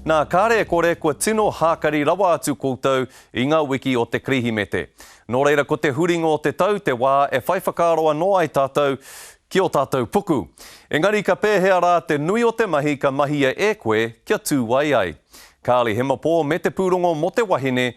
Nā, kāre e kore kua tino hākari rawa atu koutou i ngā wiki o te Kerehimete. Nō reira ko te huringa o te tau te wā e whai whakaaro anō ai tātou ki ō tātou puku. Engari ka pēhea rā te nui o te mahi ka mahia e koe kia tū wai ai? Kāre Hemapō me te pūrongo mō te wahine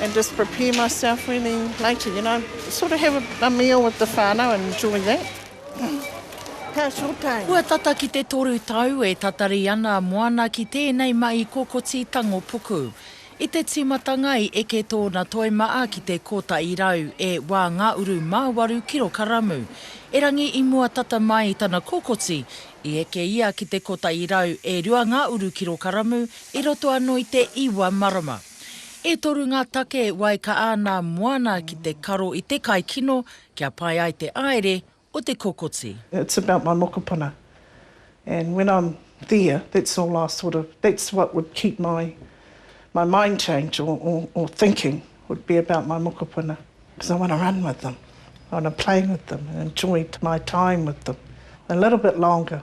and just prepare myself really later, you know, sort of have a, a meal with the whānau and enjoy that. Ka sure time. Kua tata ki te toru tau e tatari ana a Moana ki tēnei mahi kokoti tango puku. I te tīmatanga i eke tōna toi maa ki te kōtahi rau e wā ngā uru mā waru kirokaramu. Erangi i mua tata mai i tana kokoti, i eke ia ki te kōtahi rau e rua ngā uru kirokaramu i roto anō i te iwa marama. E toru ngā take e wai ka āna moana ki te karo i te kai kino kia pai ai te aere o te kokoti. It's about my mokopuna and when I'm there that's all I sort of, that's what would keep my my mind change or or or thinking would be about my mokopuna because I want to run with them, I want to play with them and enjoy my time with them a little bit longer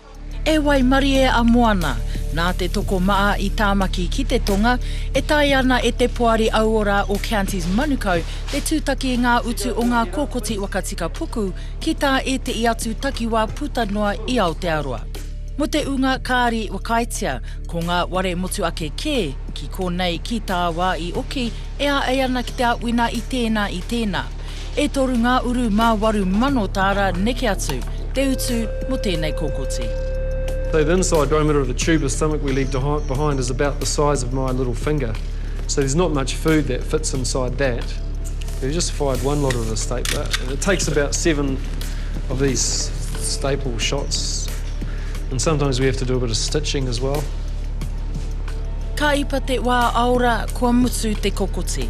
E waimarie a Moana! Nā te tokomaha i Tāmaki ki te tonga, e tae ana e te Poari Auora o Counties Manukau te tūtaki i ngā utu o ngā kōkoti wakatika puku ki tā ētehi atu takiwā puta noa i Aotearoa. Mō te ūnga kāri whakaaetia, ko ngā ware motu ake kē, ki konei, ki tāwā i oki, e āei ana ki te āwina i tēnā, i tēnā. E toru ngā uru mā waru mano tāra neke atu, te utu mō tēnei kokoti. Though the inside diameter of a tube of stomach we leave behind is about the size of my little finger, so there's not much food that fits inside that. We've just fired one lot of the stapler, and it takes about seven of these staple shots, and sometimes we have to do a bit of stitching as well. Ka ipa te wā aora, kua mutu te kokoti.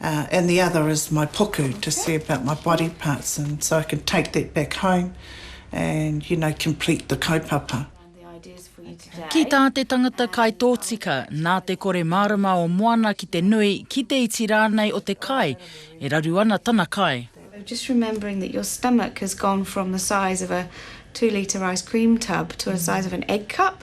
and the other is my puku to see about my body parts and so I can take that back home and you know complete the kaupapa. Ki tā te tangata kaitōtika, nā te kore mārama o Moana ki te nui, ki te iti rānei o te kai, e raru ana tana kai. Just remembering that your stomach has gone from the size of a two litre ice cream tub to a size of an egg cup.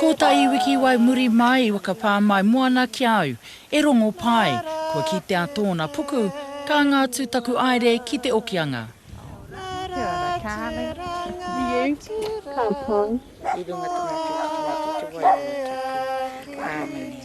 Ko ta i wiki wai muri mai i whakapā mai moana ki a au, e rongo pai, kua kitea tōna puku, ka anga atu taku aere ki te okianga. Kia ora darling, i runga te motu, te motu, te wairua taku, Āmine.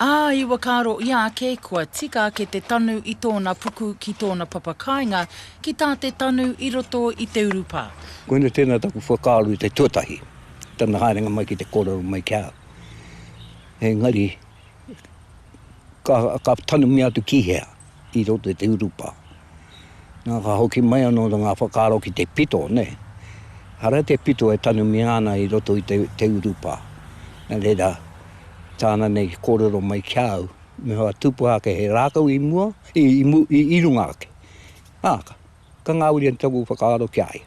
Ā, i whakaaro ia ake kua tika ake te tanu i tōna puku ki tōna papakāinga ki tā te tanu i roto i te urupā. Koinei tēnā taku whakaaro i te tuatahi, tana haerenga mai ki te kōrero mai ki a au. Engari, ka, ka tanumia atu ki hea? i roto i te urupā. Nā, ka hoki mai anō ngā whakaaro ki te pito, nē. Hara te pito e tanumia ana i roto i te urupā. Nā reira, tāna nei i kōrero mai ki a au, me whai tūpuha ake he rākau i mua, i runga ake. Ā, ka ngāwari atu taku whakaaro ki a ia.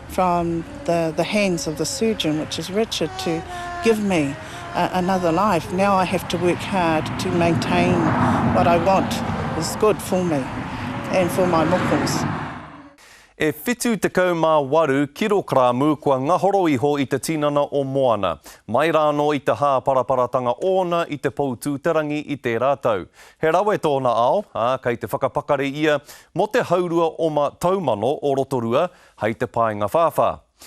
from the the hands of the surgeon which is Richard to give me a another life now I have to work hard to maintain what I want is good for me and for my mokos. E 78 kirokramu kua ngahoro iho i te tinana o Moana, mai rāno i te hāparaparatanga ōna i te Poutūterangi i tērā tau. He rawe tōna ao, ā, kei te whakapakari ia mō te haurua oma taumano o Rotorua hei te paenga whāwhā.